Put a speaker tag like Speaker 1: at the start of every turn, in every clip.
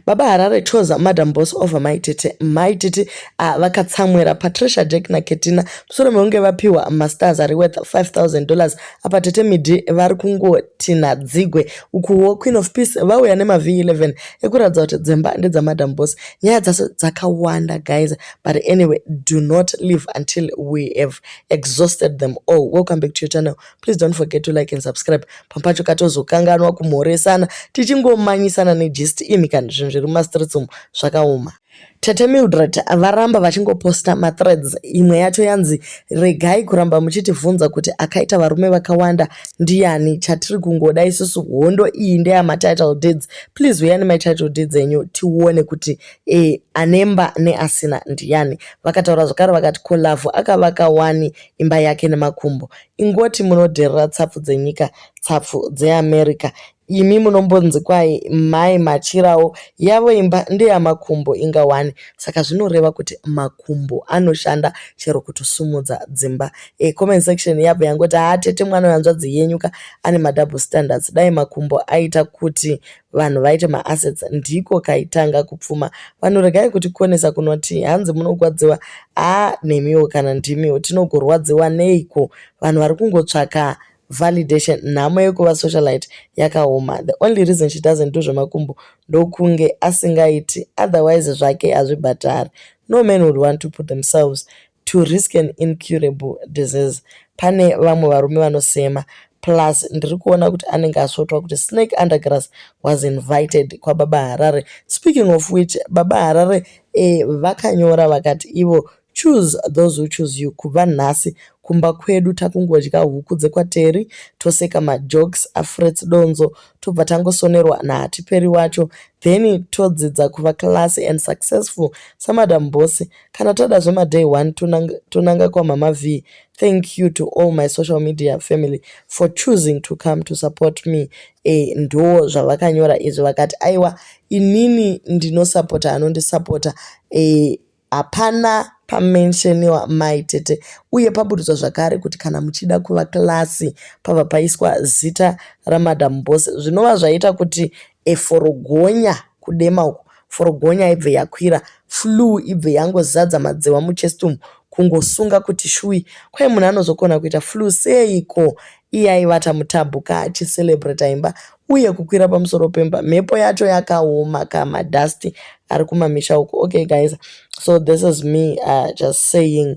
Speaker 1: Baba Harare chose Madam Boss over Mai Tete. Mai Tete uh, vakatsamwira Patricia Jack na Ketina musoro mekunge vapiwa masters ari worth 5000 dollars. Apa Tete Midi vari kungotina dzigwe ukuwo Queen of Peace vauya nema V11 ekuratidza kuti dzemba ndedza Madam Boss. Nyaya dzase dzakawanda guys but anyway do not leave until we have exhausted them all. Welcome back to your channel please don't forget to like and subscribe pampacho katozokanganwa kumhoresana tichingomanyisana negist imi kana zvinhu zviri mumastreets umu zvakaoma tete mildred varamba vachingoposta mathreads imwe yacho yanzi regai kuramba muchitivhunza kuti akaita varume vakawanda ndiyani chatiri kungoda isusu hondo iyi ndeyamatitle deeds please huya nematitle deeds enyu tione kuti e, anemba neasina ndiyani vakataura zvakare vakati kolavhu akavaka wani imba yake nemakumbo Ingoti munodherera tsapfu dzenyika, tsapfu dzeAmerica. Imi munombonzi kwahi mai machirawo yavo imba ndeyamakumbo inga wani saka zvinoreva kuti makumbo anoshanda chero kutosimudza dzimba. E, comment section yabva yangoti haa tete mwana wehanzvadzi yenyuka ane madouble standards dai makumbo aita kuti vanhu vaite maassets ndiko kaitanga kupfuma vanhu regai kuti konesa kunoti hanzi munogwadziwa a nemiwo kana ndimiwo tinogorwadziwa neiko vanhu vari kungotsvaka validation nhamo yekuva socialite yakaoma the only reason she doesn't do zvemakumbo ndokunge asingaiti otherwise zvake hazvibhatari no man would want to put themselves to risk an incurable disease pane vamwe varume vanosema plus ndiri kuona kuti anenge asvotwa kuti snake undergrass was invited kwababa harare speaking of which baba harare eh, vakanyora vakati ivo choose those who choose you kubva nhasi kumba kwedu takungodya huku dzekwateri toseka majokes afrets donzo tobva tangosonerwa nahatiperi wacho then todzidza kuva classy and successful samadam bosi kana toda zvema day one tonanga, tonanga kwamama v thank you to all my social media family for choosing to come to support me e, ndo zvavakanyora izvi vakati aiwa inini ndinosapota anondisapota e, hapana pamensheniwa mai tete uye paburudzwa zvakare kuti kana muchida kuva klasi pava paiswa zita ramadam bose zvinova zvaita kuti eforogonya kudema uku forogonya ibve yakwira flue ibve yangozadza madzewa muchest umu kungosunga kuti shui kwai munhu anozokona kuita flue seiko iye aivata mutabhuka achicelebrata imba uye kukwira pamusoro pemba mhepo yacho yakaoma kamadhasti ari kumamisha uko okay guys so this is me uh, just saying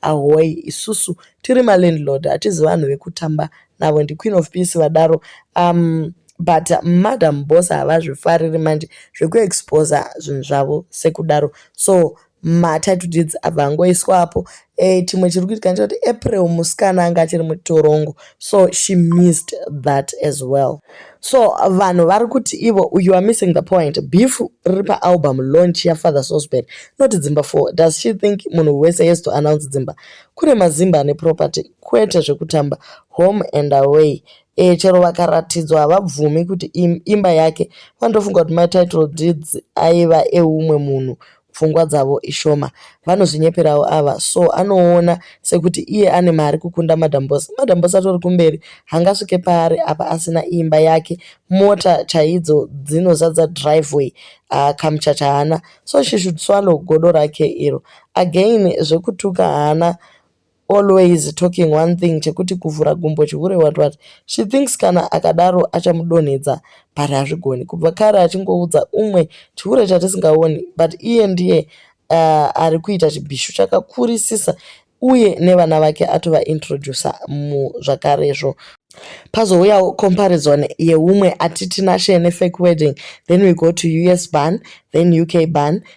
Speaker 1: Ahoyi isusu tiri malandlord hatizi vanhu vekutamba navo ndiQueen of Peace vadaro um, but madam boss havazvifariri manje zvekuexposa zvinhu zvavo sekudaro so matitle deeds abva angoiswapo e, chimwe chiri kuitika ndechokuti april musikana anga achiri mutorongo so she missed that as well so vanhu vari kuti ivo you are missing the point beef riri paalbum launch yafather sosbert not dzimba four does she think munhu wese yes to announce dzimba kune mazimba ane property kwete zvekutamba home and away e, chero vakaratidzwa havabvumi kuti im, imba yake vandofunga kuti matitle deeds aiva eumwe munhu pfungwa dzavo ishoma vanozvinyeperawo ava so anoona sekuti iye ane mari kukunda madam boss madam boss atori kumberi hangasvike paari apa asina imba yake mota chaidzo dzinozadza driveway uh, kamuchacha haana so she should swallow godo rake iro again zvekutuka haana always talking one thing chekuti kuvhura gumbo chihure what what she thinks kana akadaro achamudonhedza but hazvigoni kubva kare achingoudza umwe chihure chatisingaoni but iye ndiye uh, ari kuita chibhishu chakakurisisa uye nevana vake atovaintroducer muzvakarezvo pazouyawo comparison yeumwe atitinashe nefake wedding then we go to us ban then uk ban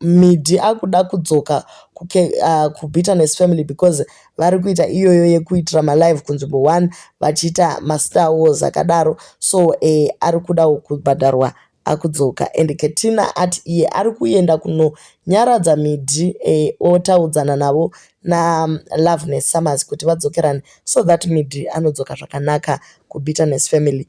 Speaker 1: Midi akuda kudzoka kuke, uh, kubitterness family because vari kuita iyoyo yekuitira malive kunzvimbo one vachiita mastar wars akadaro so eh, ari kudawo kubhadharwa akudzoka and ketina ati iye ari kuenda kunonyaradza midhi eh, otaudzana navo nalove um, nesummers kuti vadzokerane so that midhi anodzoka zvakanaka kubitterness family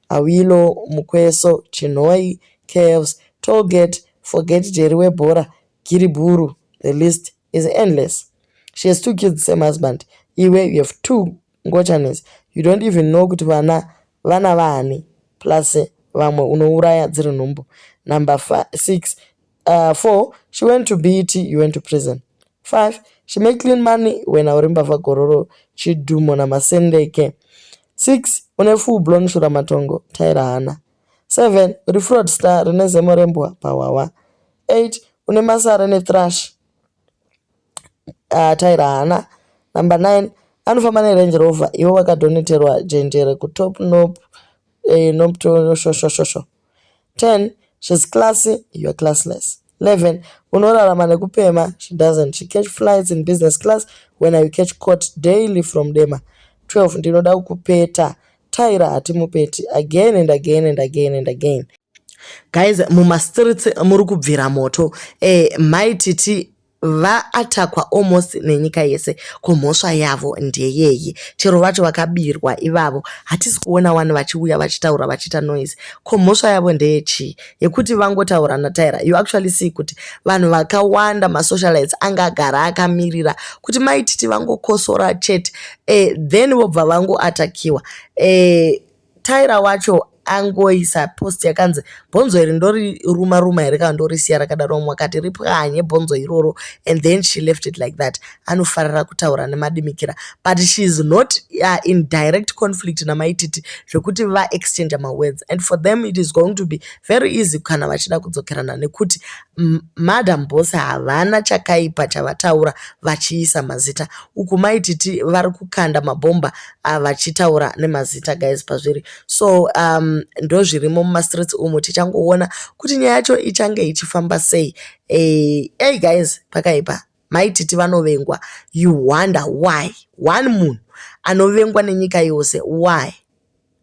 Speaker 1: Awilo, Mukweso, Chinhoyi, Caves, Tollgate, Forget Jerry webhora, Giribhuru, the list is endless. She has two kids, same husband. Iwe, you have two ngochanes. You don't even know kuti vana vana vaani. Plus vamwe unouraya dziri nhumbu. Number six, Uh, four, she went to BET, you went to prison. Five, she made clean money when auri mbavha gororo chidhumo namasendeke. Six, une full blown shura matongo, taira hana. Seven, uri fraud star rine zemo rembwa pawawa. Eight, une masara ne thrash, uh, taira hana. Number nine, anofamba nerange rover iwe wakadoneterwa jenjere kutop nop eh, noptoshoshoshosho 10 she's classy you're classless 11 unorarama nekupema she doesn't she catch flights in business class when i catch court daily from dema 12 ndinoda kukupeta tyra hatimupeti again and again and again and again guys mumastreets muri kubvira moto eh, mai titi vaatakwa almost nenyika yese ko mhosva yavo ndeyei chero vacho vakabirwa ivavo hatisi kuona wani vachiuya vachitaura vachiita noise ko mhosva yavo ndeyechii yekuti vangotaura nataira you actually see kuti vanhu vakawanda masocialites anga agara akamirira kuti maititi vangokosora chete eh, then vobva vangoatakiwa eh, Tyra wacho angoisa post yakanzi bhonzo iri ndori ruma ruma here kana ndorisiya rakadaro mumwe akati ripwanye bhonzo iroro and then she left it like that anofarira kutaura nemadimikira but she is not uh, in direct conflict namaititi zvekuti vaexchange mawords and for them it is going to be very easy kana vachida kudzokerana nekuti madam boss havana chakaipa chavataura vachiisa mazita uku maititi vari kukanda mabhomba uh, vachitaura nemazita guys pazviri so um, ndozvirimo mumastreets umu tichangoona kuti nyaya yacho ichange ichifamba sei ey eh, hey guys pakaipa maititi vanovengwa you wonder why one munhu anovengwa nenyika yose why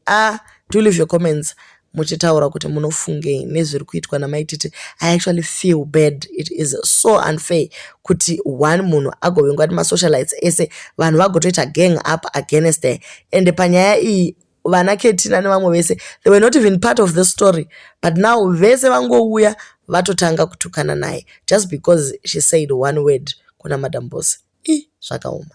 Speaker 1: a uh, do leave your comments muchitaura kuti munofungei nezviri kuitwa namai titi i actually feel bad it is so unfair kuti one munhu agovengwa ti masocialites ese vanhu vagotoita gang up against her ende panyaya iyi vana ketina nevamwe vese they were not even part of the story but now vese vangouya vatotanga kutukana naye just because she said one word kuna madam bose i zvakaoma